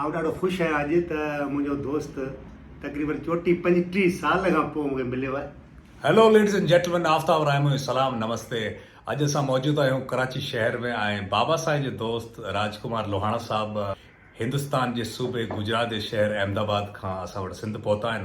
آئون ڏاڍو خوش آهيان اڄ ته منهنجو دوست تقريبن چوٽي پنجٽيهه سال کان پوء مونکي مليو آهي. Hello ladies and gentlemen Aftab Rahi منهنجو سلام نمستي اڄ اسان موجود آهيون ڪراچي شهر ۾ ۽ بابا سائين جو دوست راج ڪمار لوهاڻا صاحب هندستان جي صوبي گجرات جي شهر احمد آباد کان اسان وٽ سنڌ پهتا آهن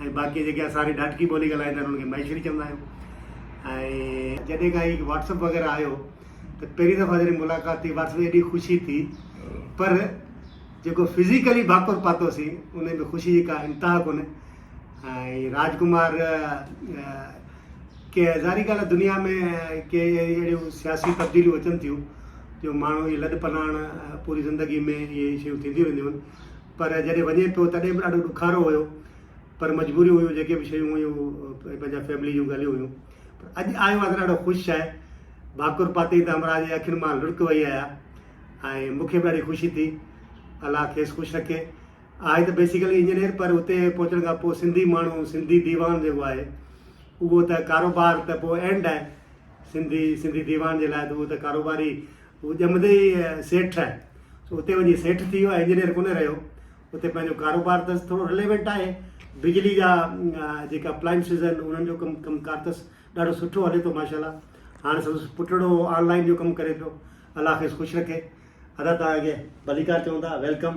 ۽ باقي جيڪي اسان واري ڏاٽڪي ٻولي ڳالهائيندا آهن انهن کي مهيشڙي چوندا آهيون ۽ جڏهن کان هي واٽس اپ وغيره آيو ته پهرين دفعا جڏهن ملاقات ٿي واٽس اپ ايڏي خوشي ٿي پر جيڪو فزيڪلي باکور پاتوسين ان ۾ خوشي جي ڪا انتها ڪونهي ۽ راج ڪمار ڪي ظاهري ڳالهه دنيا ۾ ڪي اهڙيون سياسي تبديليون اچن ٿيون جو ماڻهو اهي لڏ پلاڻ پوري زندگي ۾ اهي شيون ٿينديون رهنديون آهن پر جڏهن وڃي ٿو تڏهن به ڏاڍو ڏکارو هيو پر مجبوريون هيون جيڪي به شيون هيون پنهنجا فيملي جون ڳالهيون هيون پر اڄ آيو آهي ته ڏاڍو خوش آهي ڀاڪر پاتي ته همراهه جي اکين مان لڙڪ وئي آهي ۽ مون کي به ڏاڍي خوشي ٿي الله کيس خوش رکي آهي ته بيسيڪلي انجنيئر پر اتي پهچڻ کان پوء سنڌي ماڻهو سنڌي ديوان جيڪو آهي اهو ته ڪاروبار ته پوء اينڊ آهي سنڌي سنڌي ديوان جي لاء ته اهو ته ڪاروباري هو ڄمندي ئي سيٺ ٺهي سو اتي وڃي سيٺ ٿي ويو ۽ انجنيئر ڪونه رهيو اتي پنهنجو ڪاروبار اٿس ٿورو رليونٽ آهي بجلي جا جيڪا اپلائنسز آهن انهن جو ڪم ڪم ڪار اٿس ڏاڍو سٺو هلي ٿو ماشاء الله هاڻي سندس پٽڙو آن لائن جو ڪم ڪري پيو الله کيس خوش رکي ادا تان اڳي ڀليڪار چون ٿا ويلڪم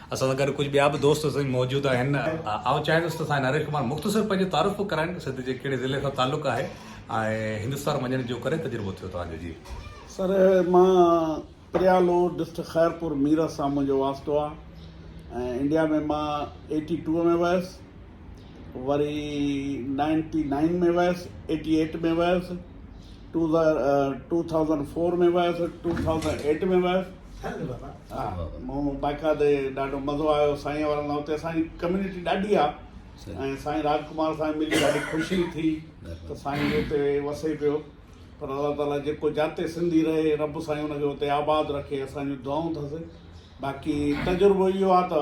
اسان سان گڏ ڪجهه ٻيا به دوست سائين موجود آهن. آئون چاهيندس ته سائين نريش ڪمار مختصر پنهنجو تعارف به ڪرائين سنڌ جي ڪهڙي ضلعي سان تعلق آهي ۽ هندستان وڃڻ جو ڪڏهن تجربو ٿيو توهان جو جي. سر مان پريالو ڊسٽرڪٽ خيرپور ميرس سان منهنجو واسطو آ ۽ انڊيا ۾ مان ايٽي ٽوء ۾ ويس وري نائنٽي نائين ۾ ويس ايٽي ايٽ ۾ ويس ٽو ٿائوزنڊ فور ۾ ويس ٽو ٿائوزنڊ ايٽ ۾ ويس مون باقاعدي ڏاڍو مزو آيو سائين وارن لاء اتي سائين ڪميونٽي ڏاڍي آ ۽ سائين راج ڪمار سائين ملي ڏاڍي خوشي ٿي ته سائين اتي وسي پيو پر الله تعالي جيڪو جاتي سنڌي رهي رب سائين ان کي اتي آباد رکي اسان جون دعائون ٿس باقي تجربو اهو آ ته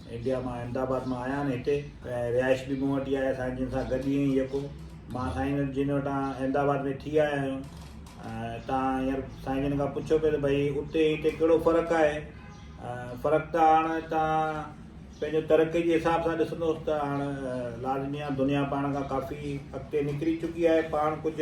انڊيا مان احمد آباد مان آيا آھن ھتي ۽ رھائش به مون وٽ ئي آھي سائين جن سان گڏ ھي ۽ يڪو مان سائين جن وٽان احمد آباد ۾ ٿي آيا آھيون ۽ تان ھينئر سائين جن کان پڇيو پي ته ڀئي اتي ۽ ھتي ڪھڙو فرق آھي فرق ته ھاڻ تان پنھنجو ترقي جي حساب سان ڏسندو ته ھاڻ لازمي آھي دنيا پاڻ کان ڪافي اڳتي نڪري چڪي آھي پاڻ ڪجھ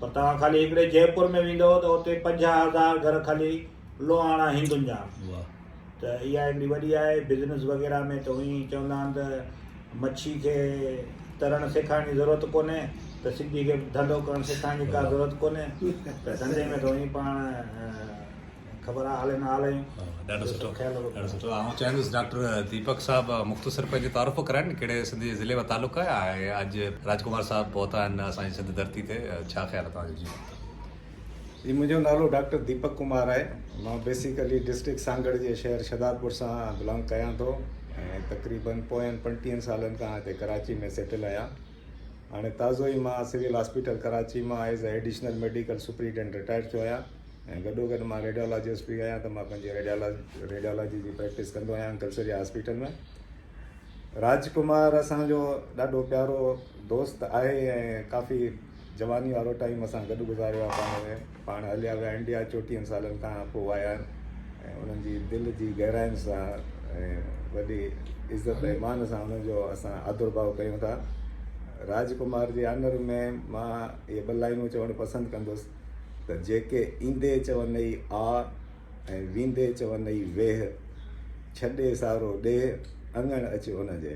پر توهان خالي هڪڙي جئپور ۾ ويندؤ ته اتي پنجاهه هزار گهر خالي لوهاڻا هندن جا آهن ته اها هڪڙي وڏي آهي بزنس وغيره ۾ ته اوهين چوندا آهن ته مڇي کي ترڻ سيکارڻ جي ضرورت ڪونهي ته سنڌي کي ڌنڌو ڪرڻ سيکارڻ جي ڪا ضرورت ڪونهي ته ڌنڌي ۾ ته اوهين پاڻ خبر آ هلي نه هلي. ڏاڍو سٺو ڏاڍو سٺو آئون چاهيندس ڊاڪٽر ديپڪ صاحب مختصر پنهنجو تعارف ڪرائين ڪهڙي سنڌي ضلعي مان تعلق آهي ۽ اڄ راج ڪمار صاحب پهتا آهن اسان جي سنڌ ڌرتي تي ڇا خيال آهي توهان جو جي جي منهنجو نالو ڊاڪٽر ديپڪ ڪمار آهي مان بيسيڪلي ڊسٽرڪٽ سانگهڙ جي شهر شهدادپور سان بلانگ ڪيان ٿو ۽ تقريباً پوين پنٽيهن سالن کان هتي ڪراچي ۾ سيٽل آهيان هاڻي تازو ئي مان سول هاسپيٽل ڪراچي مان as a additional medical superintendent retire ٿيو آهيان ۽ گڏوگڏ مان ريڊيالاجسٽ به آهيان ته مان پنهنجي ريڊيالاجي جي پريڪٽس ڪندو آهيان uncle sir ji hospital ۾ Raj Kumar اسان جو ڏاڍو پيارو دوست آهي ۽ ڪافي جواني وارو ٽائيم اسان گڏ گذاريو آهي پاڻ ۾ پاڻ هليا ويا انڊيا چوٽيهن سالن کان پوء آيا آهن ۽ انهن جي دل جي گهراين سان ۽ وڏي عزت ۽ مان سان انهن جو اسان آدر ڀاء ڪيون ٿا راج ڪمار جي آنر ۾ مان اهي ٻه لائنون چوڻ پسند ڪندس ته جيڪي ايندي چونئي آء ۽ ويندي چونئي ويهه، ڇڏي سارو ڏيهه اڱڻ اچ ان جي.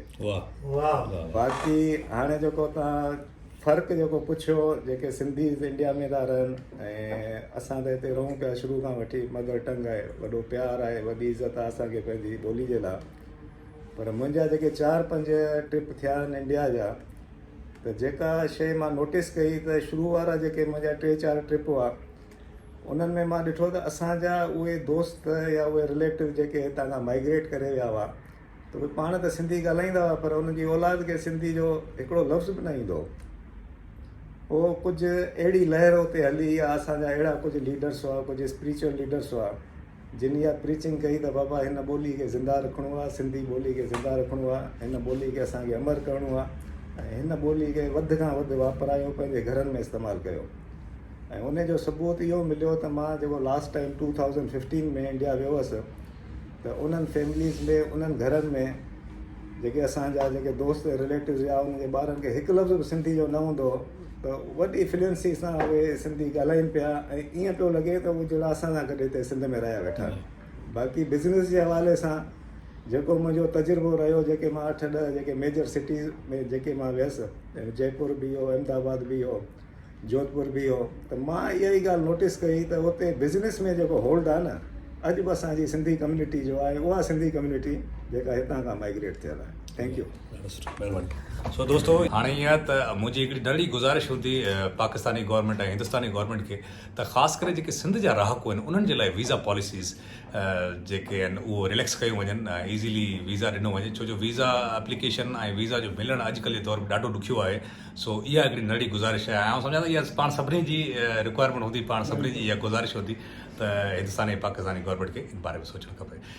باقي هاڻي جيڪو توهان فرق جيڪو پڇيو جيڪي سنڌيز انڊيا ۾ ٿا رهن ۽ اسان ته هتي رهون پيا شروع کان وٺي مدر ٽنگ آهي وڏو پيار آهي وڏي عزت آهي اسانکي پنهنجي ٻولي جي لاء پر منهنجا جيڪي چار پنج ٽرپ ٿيا آهن انڊيا جا ته جيڪا شيء مان نوٽيس ڪئي ته شروع وارا جيڪي منهنجا ٽي چار ٽرپ هئا انهن ۾ مان ڏٺو ته اسان جا اهي دوست يا اهي رليٽو جيڪي هتان کان مائگريٽ ڪري ويا هئا ته اهي پاڻ ته سنڌي ڳالهائيندا هئا پر انهن جي اولاد کي سنڌي جو هڪڙو لفظ به نه ايندو هو پوء ڪجهه اهڙي لهر اتي هلي يا اسان جا اهڙا ڪجهه ليڊرس هئا ڪجهه اسپريچوئل ليڊرس هئا جن اها پريچنگ ڪئي ته بابا هن ٻولي کي زنده رکڻو آهي سنڌي ٻولي کي زنده رکڻو آهي هن ٻولي کي اسان کي امر ڪرڻو آهي ۽ هن ٻولي کي وڌ کان وڌ واپرايو پنهنجي گهرن ۾ استعمال ڪيو ۽ ان جو ثبوت اهو مليو ته مان جيڪو last time two thousand fifteen ۾ India ويو هوس ته انهن فيمليز ۾ انهن گهرن ۾ جيڪي اسانجا جيڪي دوست رليٽوز يا انهن جي ٻارن کي هڪ لفظ به سنڌي جو نه هوندو هو ته وڏي فلوئنسي سان اهي سنڌي ڳالهائين پيا ۽ ائين پيو لڳي ته جهڙا اسان سان گڏ هتي سنڌ ۾ رهيا ويٺا آهن باقي بزنس جي حوالي سان جيڪو منهنجو تجربو رهيو جيڪي مان اٺ ڏهه جيڪي ميجر سٽيز ۾ جيڪي مان ويس جئپور به هو احمد آباد به هو جوڌپور به هو ته مان اها ئي ڳالهه نوٽس ڪئي ته اتي بزنس ۾ جيڪو هولڊ آهي نه اڄ به اسانجي سنڌي ڪميونٽي جو آهي اها سنڌي ڪميونٽي جيڪا هتان کان مائگريٽ ٿيل آهي ٿينڪ يو ڏاڍو سٺو مھرباني سو دوستو ھاڻي ائين آھي ته منھنجي ھڪڙي ننڍڙي گذارش ھوندي پاڪستاني گورنمينٽ ۽ ھندستاني گورنمينٽ کي ته خاص ڪري جيڪي سنڌ جا رھاڪو آھن انھن جي لاء ويزا پاليسيز جيڪي آھن اھو رليڪس ڪيون وڃن ايزيلي ويزا ڏنو وڃي ڇو جو ويزا اپليڪيشن ۽ ويزا جو ملڻ اڄ ڪلھ جي دور ۾ ڏاڍو ڏکيو آھي سو اھا ھڪڙي ننڍڙي گذارش آھي آئون سمجھان ٿو اھا پاڻ سڀني جي رڪوائرمينٽ ھوندي پاڻ سڀني جي اھا گذارش ھوندي ته ھندستاني ۽ پاڪستاني گورنمينٽ کي ان باري ۾ سوچڻ کپي